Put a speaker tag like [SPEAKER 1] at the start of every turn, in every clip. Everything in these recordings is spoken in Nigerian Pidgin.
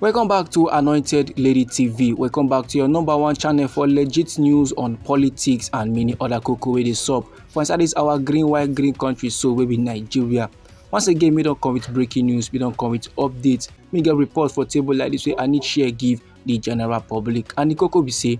[SPEAKER 1] Welcome back to Anointed Lady TV. Welcome back to your number one channel for legit news on politics and many other cocoa wey dey sup for inside this our green white green country so wey be Nigeria. Once again, we don come with breaking news, we don come with updates, we get report for table like this wey I need share give the general public and the cocoa be say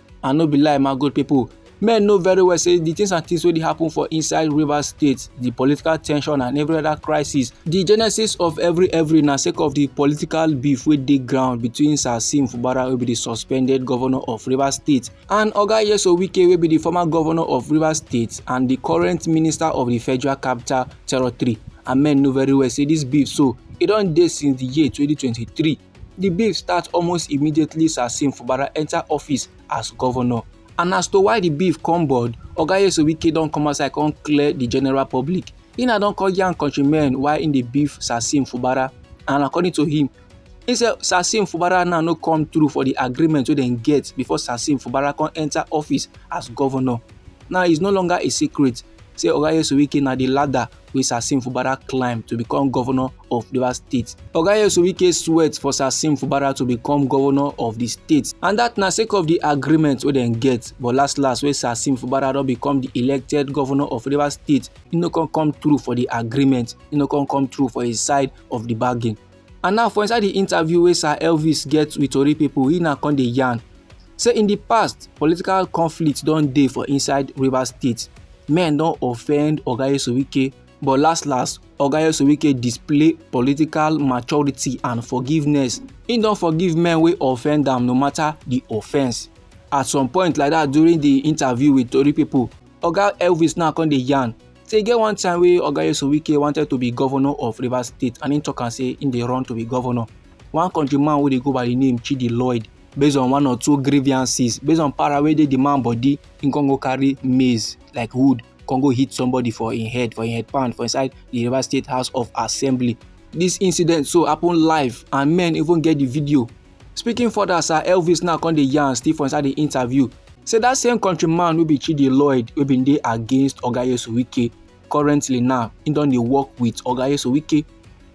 [SPEAKER 1] and no be lie my good people men know very well say the things and things wey dey happen for inside rivers state the political tension and every other crisis the genesis of every every na sake of the political beef wey dey ground between sir sim fubara wey be the suspended governor of rivers state and oga yeso wike wey be the former governor of rivers state and the current minister of the federal capital territory and men know very well say this beef so e don dey since the year 2023 Di beef start almost immediately Sir Sim Fubara enter office as governor. And as to why di beef come board, Oga Yesowike don come outside come clear di general public. He na don come yarn countrymen why im dey beef Sir Sim Fubara and according to him, he say Sir Sim Fubara now no come through for di agreement wey dem get before Sir Sim Fubara come enter office as governor. Now it's no longer a secret say Oga Yesowike na di ladder wey Sasim Fubara climb to become governor of Rivers State. Oga Nyesom Wike sweat for Sasim Fubara to become governor of di state and dat na sake of di agreement wey dem get but last last wey Sasim Fubara don become di elected governor of Rivers State, e no come come through for di agreement, e no come come through for his side of di bargain. and now for inside the interview wey sir elvis get with tori people, he na come dey yarn say in the past political conflict don dey for inside rivers state men don offend oga yesuwike but last last oga yesuwike display political maturity and forgiveness he don forgive men wey offend am no matter the offence at some point like that during the interview with tori people, oga elvis now come dey yarn So e get one time wey Oga Nyesom Wike wanted to be governor of Rivers State and im talk am say im dey run to be governor. One country man wey dey go by the name Chidi Lloyd based on one or two grievances based on para wey dey the man body im con go carry maize like wood con go hit somebody for im head for im head pan for inside the Rivers State House of Assembly. This incident so happen live and men even get the video Speaking further, Sir Elvis now come dey yarn still for inside the interview say that same countryman wey be Chidi Lloyd wey bin dey against Oga Yesuwike currently now he don dey work with Oga Yesuwike.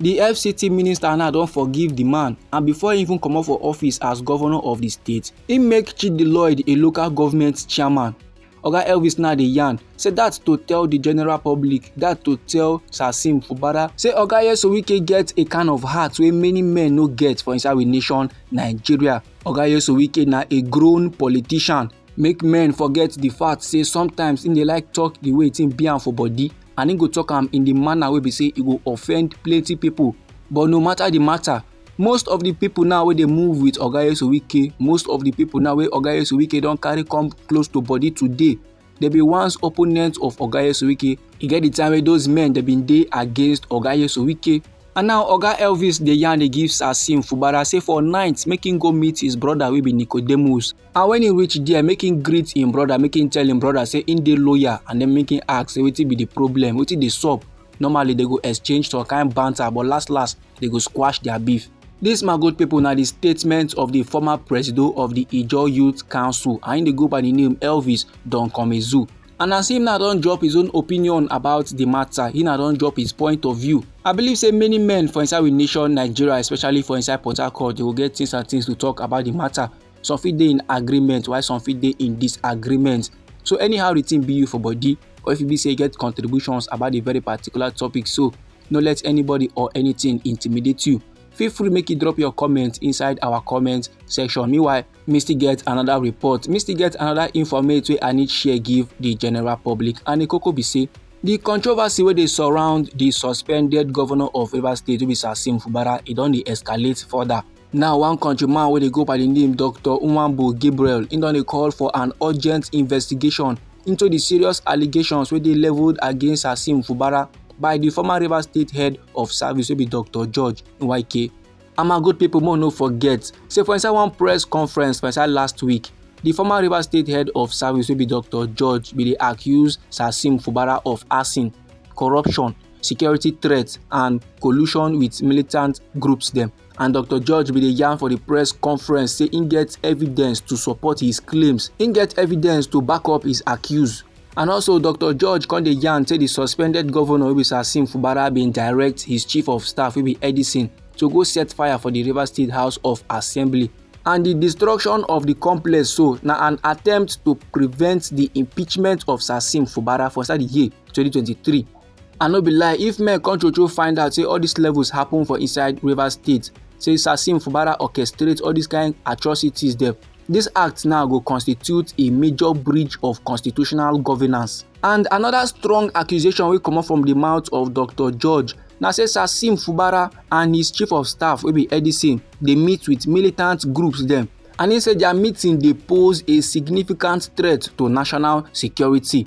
[SPEAKER 1] The FCT minister now don forgive the man and before he even comot for office as governor of the state, he make Chidi Lloyd a local government chairman oga elvis now dey yarn say dat to tell di general public dat to tell sasim fubara say oga yesowike get a kind of heart wey many men no get for inside we nation nigeria oga yesowike na a grown politician make men forget di fact say sometimes im dey like talk di way thing be am for body and im go talk am in di manner wey be say e go offend plenty pipo but no matter di matter most of the people now wey dey move with oga esuwike most of the people now wey oga esuwike don carry come close to body today dey be once opponent of oga esuwike e get the time wey those men dey bin dey against oga esuwike and now oga elvis dey yarn dey give sasim fubara say for night make him go meet his brother wey be nicodemus and when he reach there make him greet him brother make him tell him brother say him dey loyal and then make him ask say wetin be the problem wetin dey sup Normally they go exchange some kind banter but last last they go squash their beef. This my good people na the statement of the former presido of the Ijaw Youth Council and im dey go by the name Elvis Don Komezu. And as him now don drop his own opinion about the matter, he now don drop his point of view. I believe say many men for inside we nation Nigeria, especially for inside Port Harcourt, they go get things and things to talk about the matter. some fit dey in agreement while some fit dey in disagreement so anyhow the thing be you for body or if you be say you get contributions about the very particular topic so no let anybody or anything intimidate you feel free make you drop your comment inside our comment section meanwhile me still get another report me still get another informate wey i need share give the general public and the koko be say the controversy wey dey surround the suspended governor of rivers state wey be sasim fubara e don dey escalate further Now, one countryman wey dey go by the name Dr. Nwambo Gabriel, he don dey call for an urgent investigation into the serious allegations wey dey leveled against Hassim Fubara by the former Rivers State head of service wey be Dr. George Nwake. And my good people, more no forget, say for inside one press conference for inside last week, the former Rivers State head of service wey be Dr. George bin dey accuse Hassim Fubara of arson, corruption, security threats and collusion with militant groups dem. and dr george bin dey yarn for di press conference say im get evidence to support his claims im get evidence to back up his accuse and also dr george come dey yarn say di suspended governor wey be sasim fubara bin direct his chief of staff wey be edison to go set fire for di rivers state house of assembly and di destruction of di complex so na an attempt to prevent di impeachment of sasim fubara for inside di year 2023 I no be lie, if men come true true find out say all these levels happen for inside Rivers State, say Sasim Fubara orchestrate all these kind atrocities dem, this act now go constitute a major breach of constitutional governance. And another strong accusation wey comot from the mouth of Dr. George na say Sasim Fubara and his chief of staff wey be Edison dey meet with militant groups dem and he say their meeting dey pose a significant threat to national security.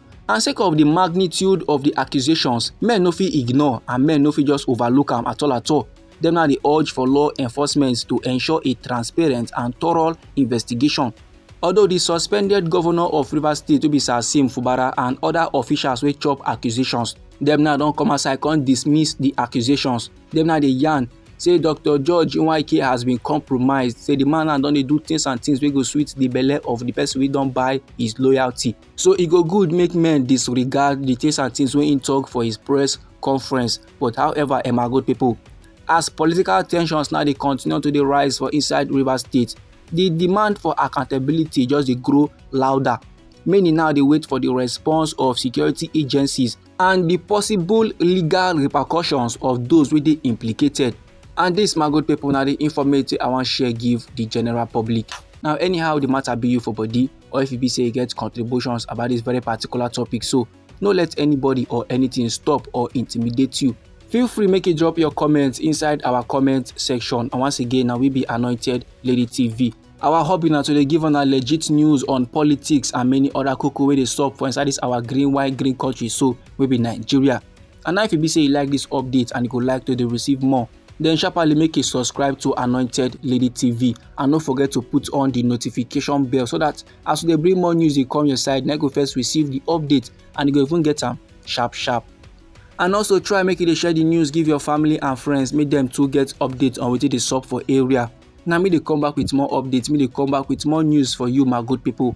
[SPEAKER 1] and sake of di magnitude of di accusations men no fit ignore and men no fit just overlook am at all at all dem now dey urge for law enforcement to ensure a transparent and thorough investigation although di suspended governor of rivers state obi sasim fubara and oda officials wey chop accusations dem now don come outside come dismiss di accusations dem now dey yarn say dr george nweke has been compromised say di man now don dey do things and things wey go sweet di belle of di person wey don buy his loyalty So e go good make men disregard the things and things wey im talk for his press conference but however emma good people as political tensions now dey continue to dey rise for inside rivers state the demand for accountability just dey grow louder many now dey wait for the response of security agencies and di possible legal repercussions of those wey dey implicated and dis my good people na di informate i wan share give di general public now anyhow di matter be you for body or if e be say you get contributions about dis very particular topic so no let anybody or anything stop or intimidate you feel free make you drop your comments inside our comment section and once again na we be anointed lady tv Our hobby na to dey give una legit news on politics and many other koko wey dey sup for inside this our green white green country so wey be Nigeria. And now if e be say you like this update and you go like to dey receive more, then sharply make a subscribe to Anointed Lady TV and no forget to put on the notification bell so that as we dey bring more news dey come your side, na go first receive the update and you go even get am sharp sharp. And also try make you dey share the news give your family and friends make them too get update on wetin dey sup for area. na me dey come back with more updates me dey come back with more news for you my good people